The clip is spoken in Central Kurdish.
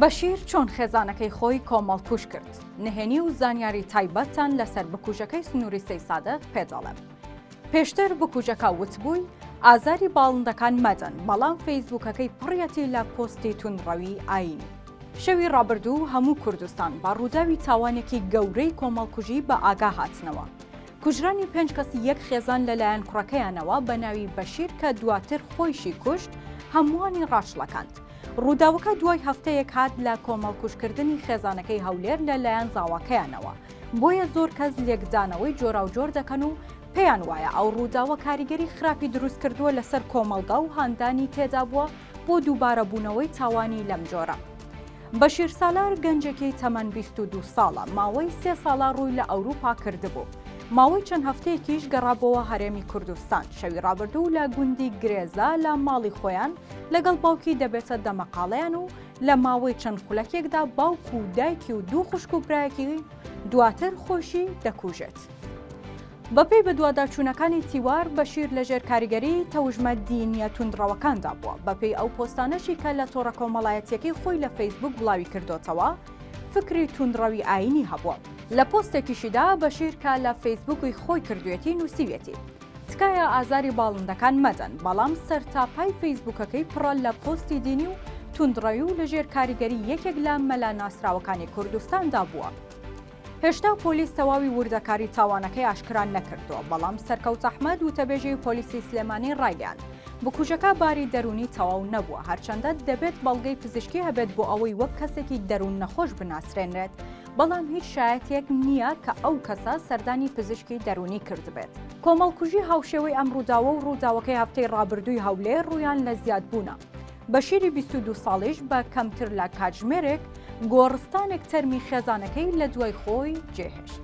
بەشیر چۆن خێزانەکەی خۆی کۆمەڵکوژ کرد؟ نهێنی و زانیاری تایبەتتان لەسەر بکوژەکەی سنووری سەیسادق پێ دەڵێم. پێشتر بکوژەکە وتبووی ئازاری باڵندەکان مەدەن، بەڵام فەیسبووکەکەی پڕیەتی لە پۆستی توندڕەوی ئایینی. شەوی ڕابردوو هەموو کوردستان بە ڕووداوی تاوانێکی گەورەی کۆمەڵکوژی بە ئاگا هاتنەوە. کوژرانی پێنج کەسی یەک خێزان لەلایەن کوڕەکەیانەوە بە ناوی بەشیر کە دواتر خۆیشی کوشت، هەمووانی ڕاچڵەکاند. ڕووداوەکە دوای هەفتەیەک هات لە کۆمەڵکوژکردنی خێزانەکەی هەولێر لە لایەن زاواکەیانەوە، بۆیە زۆر کەس لێکدانەوەی جۆراوجۆر دەکەن و پێیان وایە ئەو ڕووداوە کاریگەری خراپی دروستکردووە لەسەر کۆمەڵگا و هاندانی تێدابووە بۆ دووبارەبوونەوەی تاوانی لەم جۆرە. بەشیر سالار گەنجێکی تەمەن بیست و دوو ساڵە، ماوەی سێ ساڵە ڕووی لە ئەوروپا کردبوو، ماوەی چەند هەفتەیەکیش گەڕابۆوە هەرێمی کوردستان، شەوی ڕابردوو لە گوندی گرێزە لە ماڵی خۆیان لەگەڵ باوکی دەبێتە دەمەقاڵێیان و لە ماوەی چەند خولەکێکدا باوک و دایکی و دوو خوشک و برایەکی دواتر خۆشی دەکوژێت. بەپێی بەدواداچوونەکانی تیوار بەشیر لەژێر کاریگەری تەوژمە دینیە توندڕەوەکاندا بووە بەپێی ئەو پۆستانەشی کە لە تۆڕە کۆمەڵایەتیەکەی خۆی لە فەیسبوک بڵاوی کردۆتەوە فکری توندڕەوی ئاینی هەبووە. لە پۆستێکیشیدا بەشیر کە لە فەیسبوکی خۆی کردوێتی نووسیویەتی. تکایە ئازاری باڵندەکان مەدەن بەڵام سەرتاپای فەیسبووکەکەی پڕە لە پۆستی دینی و توندڕەوی و لەژێر کاریگەری یەکێک لە مەلا ناسراوەکانی کوردستاندا بووە. هێشتا پۆلیس تەواوی وردەکاری تاوانەکەی ئاشکرا نەکردووە، بەڵام سەرکەوت ئەحمەد وتەبێژی پۆلیسی سلێمانی ڕایگەیاند، بکوژەکە باری دەروونی تەواو نەبووە، هەرچەندە دەبێت بەڵگەی پزیشکی هەبێت بۆ ئەوەی وەک کەسێکی دەروون نەخۆش بناسرێنرێت، بەڵام هیچ شایەتێک نییە کە ئەو کەسە سەردانی پزیشکی دەروونی کردبێت. کۆمەڵکوژی هاوشێوەی ئەم ڕووداوە و ڕووداوەکەی هەفتەی ڕابردووی هەولێر ڕوویان لە زیادبوونە. بەشیری بیست و دوو ساڵیش بە کەمتر لە کاتژمێرێک گۆڕستانێک تەرمی خێزانەکەی لە دوای خۆی جێهێشت.